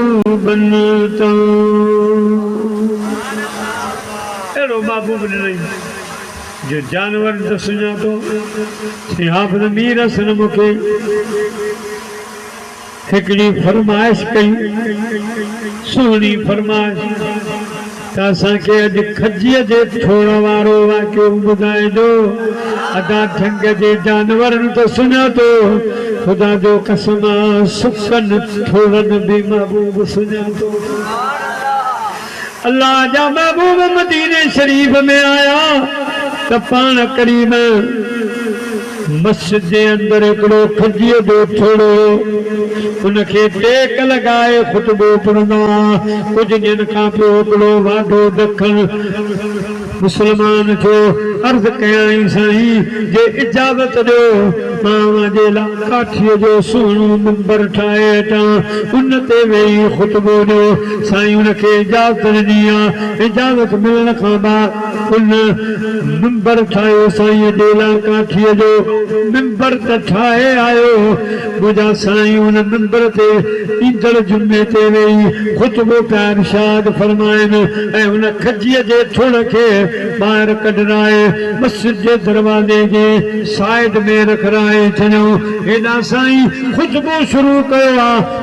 محبوبن تان اهڙو محبوب ڏنائين جو جانورن ته سڃاتو سين حافظ مير حسن مون کي هڪڙي فرمائش ڪئي سهڻي فرمائش. ته اسان کي اڄ کجيء جي ٿوڙ وارو واقعو ٻڌائجو. ادا جهنگ جي جانورن ته سڃاتو، خدا جو قسم آ سڪن ٿوڙن به محبوب سڃاتو. الله جا محبوب مديني شريف ۾ آيا ته پاڻ ڪريم. مسجد جي اندر هڪڙو ڦجيء جو ٿڙو هو، ان کي ٽيڪ لڳائي خطبو پڙهندا ها، ڪجهه ڏينهن کان پوء هڪڙو واڍو ڊکڻ مسلمان جو عرض ڪيائين سائين جي اجازت ڏيو مان اوهان جي لاء ڪاٺيء جو سهڻو منبر ٺاهي هٽان ان تي ويهي خطبو ڏيو، سائين ان کي اجازت ڏني ها، اجازت ملڻ کان بعد. ان منبر ٺاهيو سائين ڏيلان ڪاٺيء جو منبر ته ٺاهي آيو منهنجا سائين ان منبر تي ايندڙ جمعي تي ويهي خطبو پيا ارشاد فرمائن ۽ ان کجيء جي ٿڙ کي ٻاهر ڪڍرائي مسجد جي دروازي جي سائيڊ ۾ رکرائين چيائون هيڏانهن سائين خطبو شروع ڪيو آ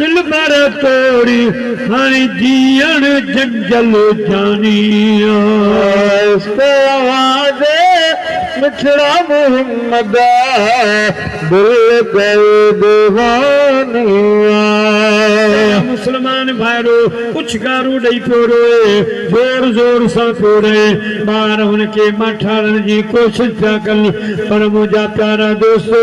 دلبر توڙي هاڻي جيئڻ جنجل جاني آ. عشق اوهان جي مٺڙا محمد آ. دل ڳئي ديواني آ. اي مسلمان ڀائرو پڇ گارو ڏئي پيو روئي زور زور سان پيو رئي ٻار هن کي ماٺارڻ جي ڪوشش پيا ڪن پر منهنجا پيارا دوستو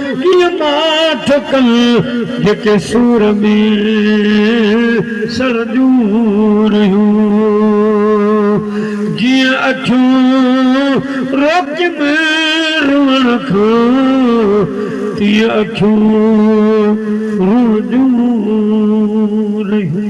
ڪيئن ماٺ ڪن جيڪي سور ۾ سڙنديون رهيون جيئن اکيون روڪين روئڻ کان تيئن اکيون روئنديون رهيون.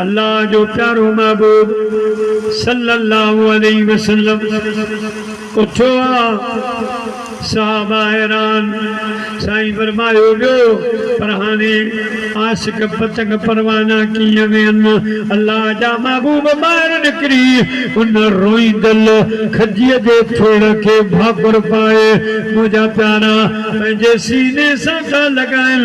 الله جو پيارو محبوب صلّي اللّٰه عليه وسلّم اٿيو آ، صحابه حيران، سائين فرمايو ويو، پر هاڻي عاشق پتنگ پروانا ڪيئن ويهن، الله جا محبوب ٻاهر نڪري ان روئيندل کجيء جي ٿڙ کي ڀاڪر پائي منهنجا پيارا پنهنجي سيني سان ٿا لڳائن.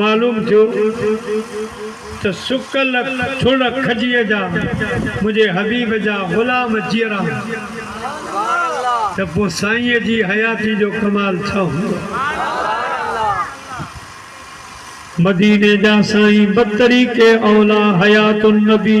معلوم ٿيو ته سڪل ٿڙ کجيء جا منهنجي حبيب جا غلام جيئرا هوندا ته پوء سائينء جي حياتيء جو ڪمال ڇا هوندو؟ مديني جا سائين بطريق اولا حيات النبي.